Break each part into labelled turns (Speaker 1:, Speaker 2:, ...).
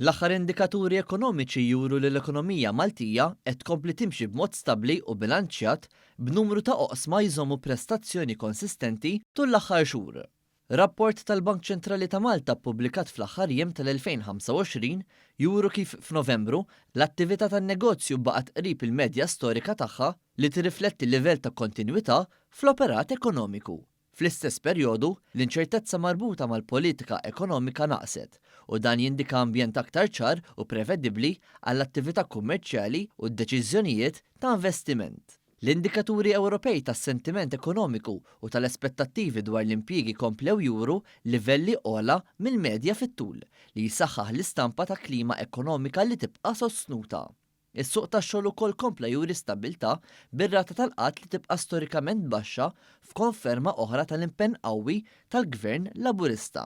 Speaker 1: L-aħħar indikaturi ekonomiċi juru li l-ekonomija Maltija qed tkompli timxi b'mod stabbli u bilanċjat, b'numru ta' oqsma jżommu prestazzjoni konsistenti tul l-aħħar xhur. Rapport tal-Bank Ċentrali ta' Malta ppubblikat fl-aħħar jiem tal-2025 juru kif f'Novembru l-attività tan-negozju baqgħet qrib il-medja storika tagħha li tirrifletti livell ta' kontinwità fl-operat ekonomiku. Fl-istess perjodu, l-inċertezza marbuta mal-politika ekonomika naqset, u dan jindika ambjent aktar ċar u prevedibbli għall-attività kummerċjali u d-deċiżjonijiet ta' investiment. L-indikaturi Ewropej tas-sentiment ekonomiku u tal-aspettattivi dwar l-impjiegi komplew juru livelli ogħla mill-medja fit-tul, li jsaħħaħ l-istampa ta' klima ekonomika li tibqa' sostnuta. Is-suq tax-xogħol ukoll kompla juri stabbiltà, bir-rata tal-qgħad li tibqa' storikament baxxa f'konferma oħra tal-impenn qawwi tal-Gvern Laburista.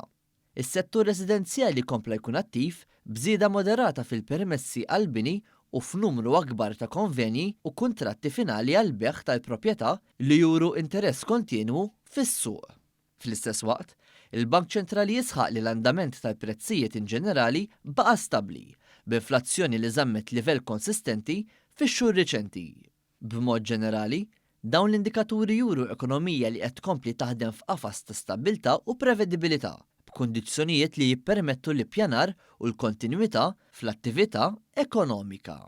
Speaker 1: Is-settur residenzjali kompla jkun attiv, b'żieda moderata fil-permessi għall-bini u f'numru akbar ta' konvenji u kuntratti finali għall-bejgħ tal-proprjetà li juru interess kontinwu fis-suq. Fl-istess waqt, il-Bank Ċentrali jisħaq li l-andament tal-prezzijiet inġenerali baqa' stabbli, b'inflazzjoni li żammet livell konsistenti fix-xhur riċenti. B'mod ġenerali, dawn l-indikaturi juru ekonomija li qed tkompli taħdem f'qafas ta' stabbiltà u prevedibilità, b'kundizzjonijiet li jippermettu l-ippjanar u l-kontinwità fl-attività ekonomika.